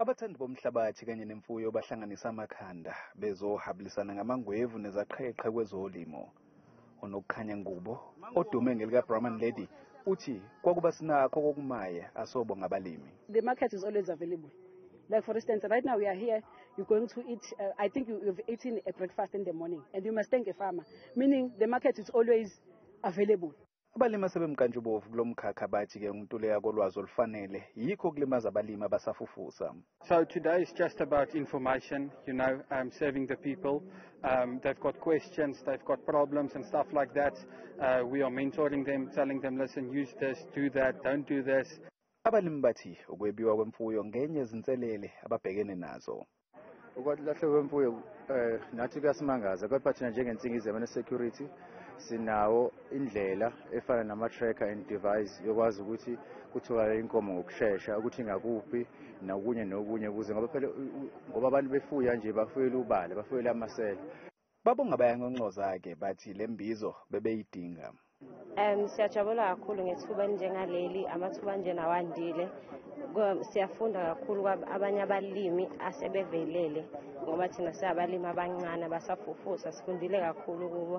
Abathandi bomhlabathi kanye nemfuyo bahlanganisa amakhanda bezohabulisana ngamangwevu nezaqheqhe kwezolimo. Unokukhanya Ngubo, odume ngelikaBrahman Lady, uthi kwakuba sinakho kokumaye asobo ngabalimi. The market is always available. Like for instance, right now we are here, you're going to eat, uh, I think you, you've eaten a breakfast in the morning and you must thank a farmer, meaning the market is always available. Abalimi asebemnkantshubovu kulo mkhakha bathi ke ukuntuleka kolwazi olufanele yikho okulimaza abalimi abasafufusa. So today is just about information, you know, um, serving the people. Um, they've got questions, they've got problems and stuff like that. Uh, we are mentoring them, telling them, listen, use this, do that, don't do this. Abalimi bathi ukwebiwa kwemfuyo ngenye izinselele ababhekene nazo. ukwalahlwa kwemfuyo um eh, nathi kuyasimangaza kodwa thina njengensingizema ne-security sinawo indlela efana nama-tracker and device yokwazi ukuthi kutholakale inkomo ngokushesha ukuthi ingakuphi nokunye nokunye ukuze ngoba phela ngoba abantu befuya nje bafuyela ubala bafuyela amasela Babonga bayanconcoza-ke bathi le mbizo bebeyidinga. Um, siyajabula kakhulu ngethuba elinjengaleli amathuba anjena wandile siyafunda kakhulu kwabanye abalimi asebevelele ngoba thina siyabalimi abancane abasafufusa sifundile kakhulu kubo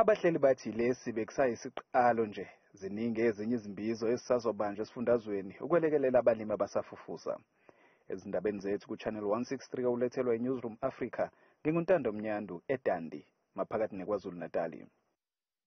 Abahleli bathi lesi bekusayisiqalo nje, ziningi ezinye izimbizo ezisazobanjwa esifundazweni ukwelekelela abalimi abasafufusa. Ezindabeni zethu kuChannel 163 owulethelwa yiNewzroom Afrika, nginguNtando Mnyandu, eDundee, maphakathi neKwaZulu-Natali.